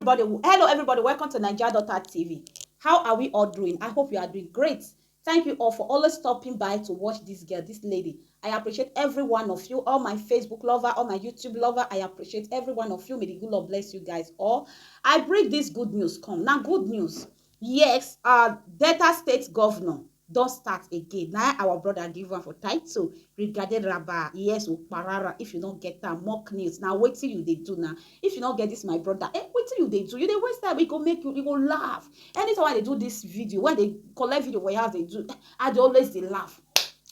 everybody hello everybody welcome to naija daughter tv how are we all doing i hope you are doing great thank you all for always stopping by to watch this girl this lady i appreciate every one of you all my facebook lover all my youtube lover i appreciate every one of you may the good lord bless you guys all i bring this good news come now good news Yes um Delta state governor don start again na our brother give am for title regarding raba yes okparara if you no get am mock news na wetin you dey do na if you no get this my brother eh wetin you dey do you dey waste time e go make you you go laugh anytime i dey do this video when i dey collect video for your house dey do i dey always dey laugh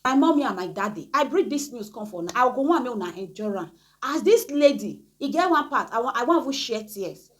my mommy and my daddy i bring this news come for una i go wan make una enjoy am as this lady e get one part i wan i wan even share tears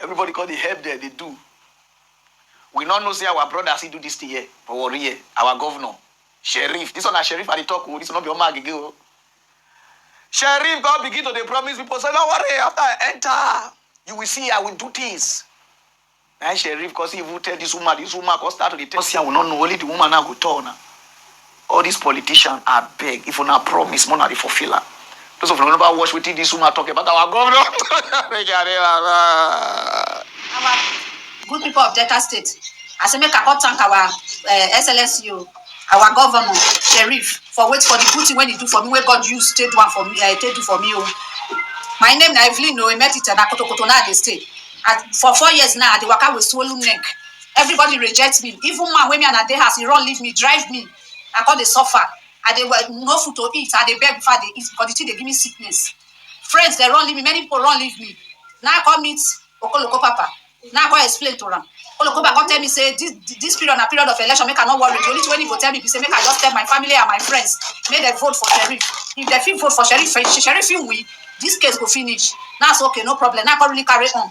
Everybody come dey help dem dey do. We no know say our brother still do this thing here for Warri here. Our governor, Sheriff. This one na Sheriff I dey talk o. This one no be Oma Agege o. Sheriff come begin to dey promise people say, no worry, after I enter, you will see I will do things. Na him Sheriff come still even tell this woman. This woman come start to dey tell. Come see I will not know. Only the woman now go tell una. All this politician abeg if una promise make una dey fulfill am those of una never watch wetin this woman talk about our governor make I dey laugh ah. our good people of Delta State. I say make I come thank our uh, SLSU, our governor, Sheriff, for wait for the good thing when he do for me, where God use take do am for me, uh, take do for me. Oh. My name na Evelyn Oemetita, na Kotokoto na I dey stay. I, for four years now, I dey waka with swollen neck. everybody reject me even man wey me and i dey house he run leave me drive me i come dey suffer i dey well no food to eat i dey beg before i dey eat because the thing dey give me sickness friends dey run leave me many people run leave me now i come meet okoloko papa now i come explain to am okoloko papa come tell me say this this period na period of election make i no worry the only thing wey he go tell me be say make i just tell my family and my friends make dem vote for sheriff if dem fit vote for sheriff sheriff fit win this case go finish now i say okay no problem now i come really carry on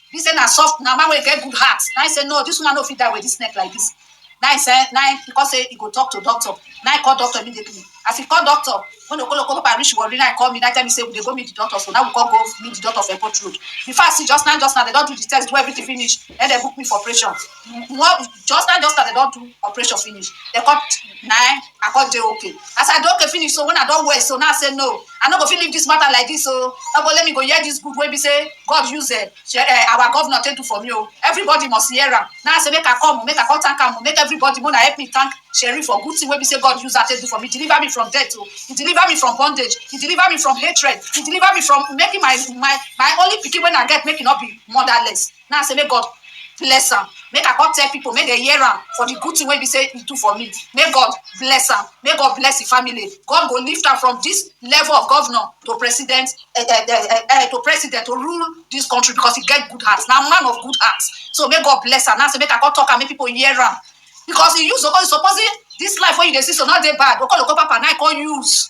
He say na soft, na man wey get good heart. Now he say no, this woman no fit die with this neck like this. Now he say, now he because say he go talk to doctor. Now he call doctor immediately. As he call doctor, when the kolo kolo reach Warri, now he call me. Now he tell me say we dey go meet the doctor. So now we call go meet the doctor for airport road. Before I see just now, just now they don do the test, do everything finish. Then they book me for operation. well just now just as dem don do operation finish dem come na i come dey okay as i dey okay finish so when i don well so now i say no i no go fit leave this matter like this o obo let me go hear this good wey be say god use uh, uh, our governor take do for me o everybody must hear am now i say make i come make i come thank am make everybody una help me thank sherry for good thing wey be say god use her take do for me deliver me from death o he deliver me from bondage he deliver me from hatred he deliver me from making my my my only pikin wey i get make e no be motherless Na I say make God bless am, make I come tell pipu make dem hear am for di good tin wey be sey e do for me, make God bless am, make God bless im family, God go lift am from dis level of governor to president um um to president to rule dis country because e get good heart, na man of good heart, so make God bless am, na I say make I come talk am make pipu hear am because e use supposing dis life wey you dey see so no dey bad, Okoloko papa na e come use.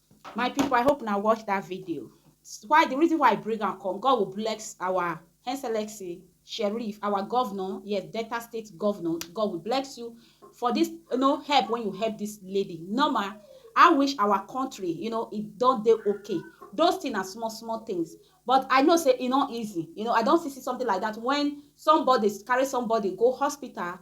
My people, I hope na watch that video. Why the reason why I bring am come, God will bless our Excellency Sheriff, our governor, yes, Delta State governor. God will bless you for this, you know, help when you help this lady. Normal, I wish our country, you know, it don't dey okay. Those things are small, small things. But I know say e no easy. You know, I don see see something like that when somebody carry somebody go hospital,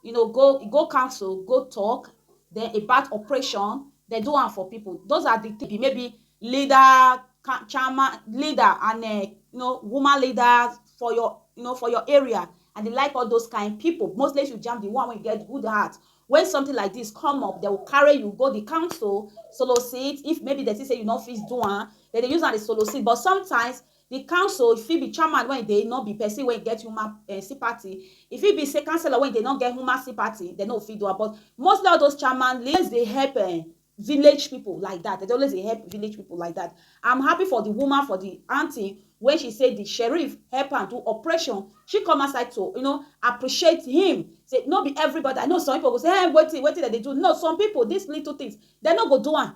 you know go go council go talk then about operation dem do am for people those are the things maybe leader chairman leader and uh, you know woman leader for your you know for your area and they like all those kind people mostly you jam the one wey get good heart when something like this come up they will carry you go the council solicit if maybe they see say you no fit do am they dey use am dey solicit but sometimes Di council fit be chairman wey dey nor be pesin wey get human sympathy, e fit be say councillor wey dey nor get human sympathy dem nor fit do am but mostly all those chairman dey always dey help um village pipu like dat, dem dey always dey help village pipu like dat. Am happy for di woman for di aunty wey she say di sheriff help am do operation, she come outside to you know appreciate him say nor be everybody, I know some pipu go say um wetin wetin dem dey do, no some pipu dis little things dem nor go do am.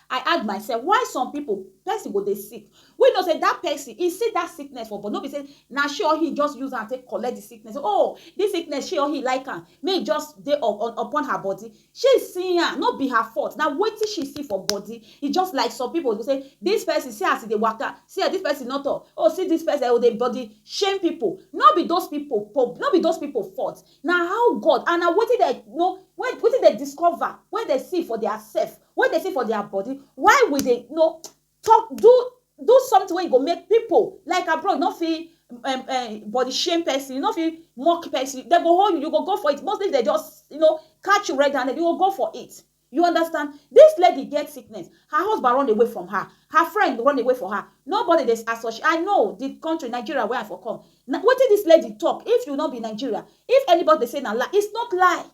I add myself why some people person go dey sick we know say that person he see that sickness for but no be say na she or he just use am take collect the sickness oh this sickness she or he like am may e just dey upon her body she see am no be her fault na wetin she see for body e just like some people go say this person see as e dey waka see as this person no talk oh see this person oh dey body shame people no be those people no be those people fault na how God and na wetin dem know wetin dem discover wey dem see for their self wey dey see for dia body why we dey no talk do do something wey go make pipo like abroad no fit um, um, body shame person, you no fit mock person. They go hold you, you go go for it. Mostly they just, you know, catch you red handed, you go go for it. You understand? This lady get sickness. Her husband run away from her. Her friend run away for her. Nobody dey associate. I know the country Nigeria where I for come. Now, what did this lady talk? If you not be Nigeria, if anybody say na lie, it's not lie.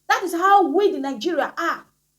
That is how we the Nigeria are.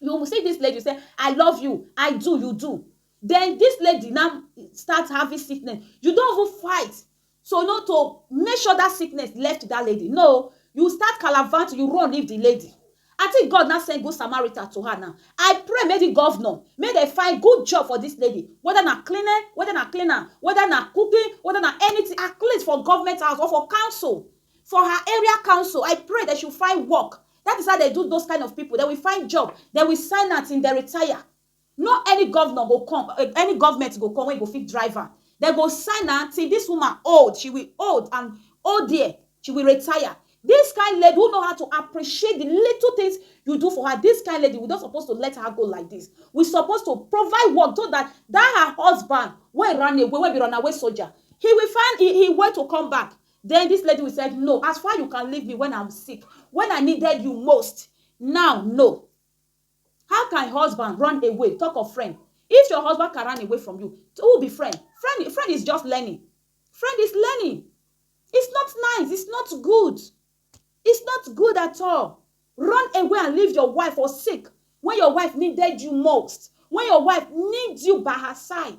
you see this lady say i love you i do you do then this lady now start having sickness you don't even fight so not to make sure that sickness left to that lady no you start calavant you run leave the lady I think God now send good Samaritan to her now. I pray may the governor, may they find good job for this lady. Whether na cleaner, whether na cleaner, whether na cooking, whether na anything, at least for government house or for council, for her area council. I pray that she find work That is how dem do those kind of people, dem will find job, dem will sign am till dem retire. No any governor go come, any government go come wey go fit drive am. Dem go sign am till this woman old, she will old and old there, she will retire. This kind lady who know how to appreciate the little things you do for her, this kind lady we no suppose to let her go like this. We suppose to provide work so that that her husband wey run away, wey be runaway soldier, he will find he way to come back. Then this lady will said no as far you can leave me when I'm sick when I needed you most now no how can husband run away talk of friend if your husband can run away from you who be friend friend friend is just learning friend is learning it's not nice it's not good it's not good at all run away and leave your wife or sick when your wife needed you most when your wife needs you by her side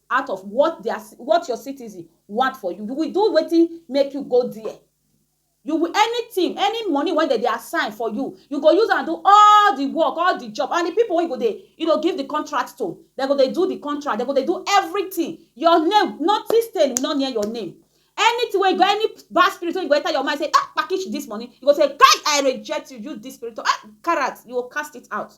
out of what their what your citizen want for you you will do wetin make you go there you will anything any money wey dem dey assign for you you go use am do all the work all the job and the people wey you go dey you know give the contract to dem go dey do the contract dem go dey do everything your name nothing stain no near your name anything wey you go any bad spirit wey you go enter your mind say ah package this money you go say kai i reject you use this spirit to ah carrot you go cast it out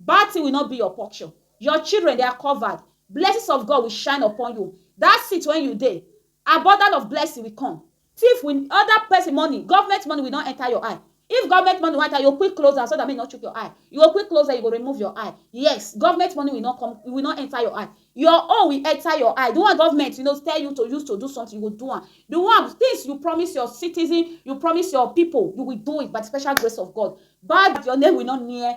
Bad thing will not be your portion, your children they are covered, blessings of God will shine upon you, that seat when you dey, abundant of blessing will come, thief will, other person money, government money will not enter your eye, if government money wan enter, you go quick close am so that make e no chook your eye, you go quick close am, you go remove your eye, yes, government money will not come, e will not enter your eye, your own will enter your eye, the one government you know tell you to use to do something, you go do am, the one, things you promise your citizen, you promise your people, you will do it by the special grace of God, bad, your name will not near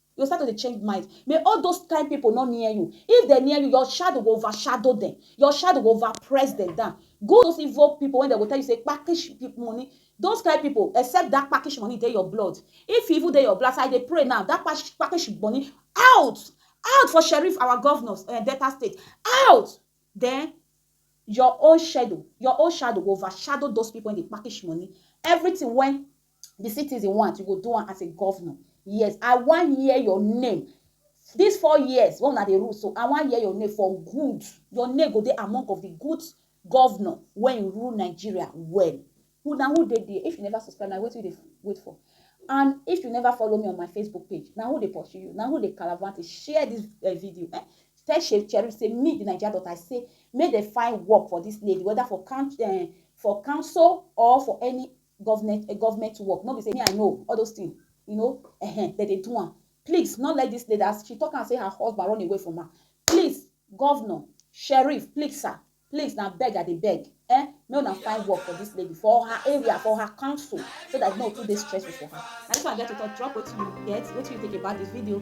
You go start to dey change mind. May all those kind people no near you. If dem near you, your shadow go overshadow dem. Your shadow go overpress dem down. Go those evil people when dem go tell you say kpakish money. Those kind people, except that kpakish money dey your blood. If e even dey your blood, as I dey pray now, that kpakish money out! Out for Sheriff, our governors, um Delta State, out! Then your own shadow, your own shadow go overshadow those people wey dey kpakish money. Everything wey the citizen want you go do am as a governor yes i wan hear your name these four years wey una dey rule so i wan hear your name for good your name go dey among of the good governor wey rule nigeria well who na who dey there if you never subscribe na wetin you dey wait for and if you never follow me on my facebook page na who dey pursue you na who dey caravante share this uh, video eh? tell shey cherry say me the naija daughter i say make dem find work for this lady whether for count uh, eh, for council or for any government eh, government work no be say me i know all those things you know eh, dem dey do am please no let this lady as she talk am say her husband run away from her please governor sheriff please sir please na beg i dey beg eh make una find work for this lady for her area for her council so that no too dey stressful for her na this one i get to talk drop wetin you get wetin you think about this video